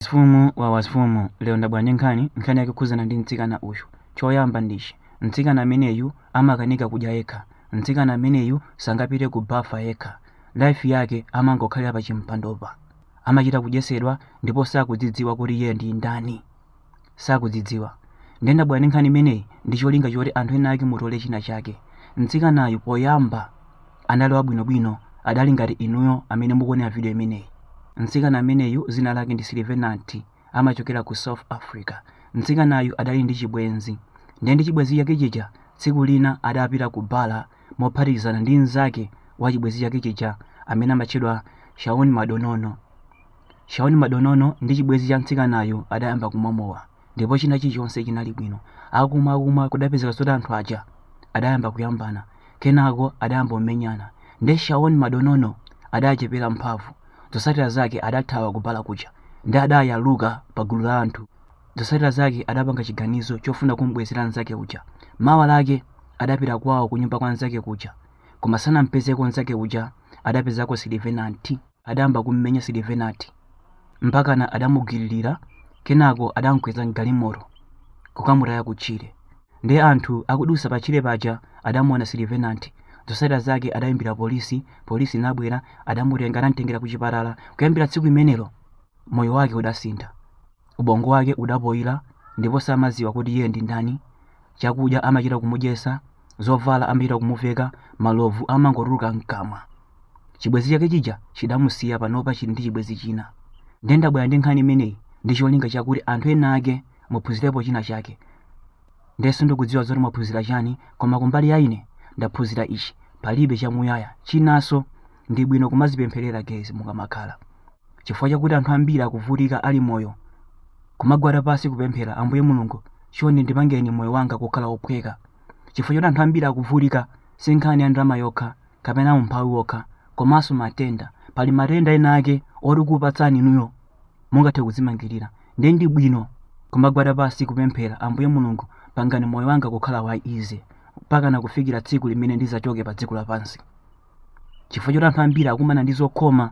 Wansifumu wa wansifumu, lero ndabwera ndi nkhani, nkhani yake kukhudzana ndi mtsikana uyu. Choyamba ndichi, mtsikana ameneyu amakanika kudya yekha. Mtsikana ameneyu sangapite ku bafa yekha. Life yake amangokhalira pa chimpandopa. Amachita kudyesedwa ndipo sakudzidziwa kuti iye ndi ndani. Sakudzidziwa. Ndiye ndabwera ndi nkhani imeneyi ndi cholinga choti anthu ena ake mutole china chake. Mtsikanayu poyamba anali wabwinobwino adali ngati inuyo amene mukuonera video imeneyi mtsikana ameneyu zina lake ndi silivenanti amachokera ku south africa mtsikanayu adali ndi chibwenzi ndiye ndi chibwenzi chake chija tsiku lina adapita ku bala mophatikizana ndi mnzake wa chibwenzi chake chija amene amatchedwa shaun madonono shaun madonono ndi chibwenzi cha mtsikanayu adayamba kumwa mowa ndipo china chilichonse chinali bwino akumwa akumwa kudapezeka zoti anthu aja adayamba kuyambana kenako adayamba kumenyana nde shaun madonono adachepera mphamvu zotsatira zake adathawa ku bala kuja ndi adayaluka pa gulu la anthu zotsatira zake adapanga chiganizo chofuna kumbwezera nzake uja mawa lake adapita kwawo kunyumba kwa nzake kuja koma sanampezeko nzake uja adapezako silivenanti adayamba kummenya Silivenanti mpakana adamugwiririra kenako adamkweza m'galimoto kukamutaya kutchire. Ndiye anthu akudusa patchire paja adamuona Silivenanti zotsatira zake adayimbira polisi, polisi inabwera adamutenga adamtengera ku chipatala. Kuyambira tsiku limenelo moyo wake udasintha, ubongo wake udapoyira ndipo samadziwa kuti iye ndi ndani. Chakudya amachita kumudyetsa, zovala amachita kumuveka, malovu amangotuluka mkamwa. chibwenzi chake chija chidamusiya panopa chili ndi chibwenzi china ndiye ndabwera ndi nkhani imeneyi ndi cholinga chakuti anthu ena ake muphunzirepo china chake ndiye sindikudziwa zoti mwaphunzira chani koma kumbali ya ine ndaphunzira ichi palibe chamuyaya chinanso ndi bwino kumazipempherera guys mukamakhala chifukwa chakuti anthu ambiri akuvutika ali moyo kumagwada pasi kupemphera ambuye mulungu chonde ndipangeni moyo wanga kukhala wophweka chifukwa choti anthu ambiri akuvutika si nkhani ya ndalama yokha kapena umphawi wokha komanso matenda pali matenda ena ake oti kupatsani inuyo mungathe kudzimangirira ndiye ndi bwino kumagwada pansi kupemphera ambuye mulungu pangani moyo wanga kukhala wa easy mpakana kufikira tsiku limene ndizachoke pa dziko lapansi chifukwa choti anthu ambiri akumana ndi zokhoma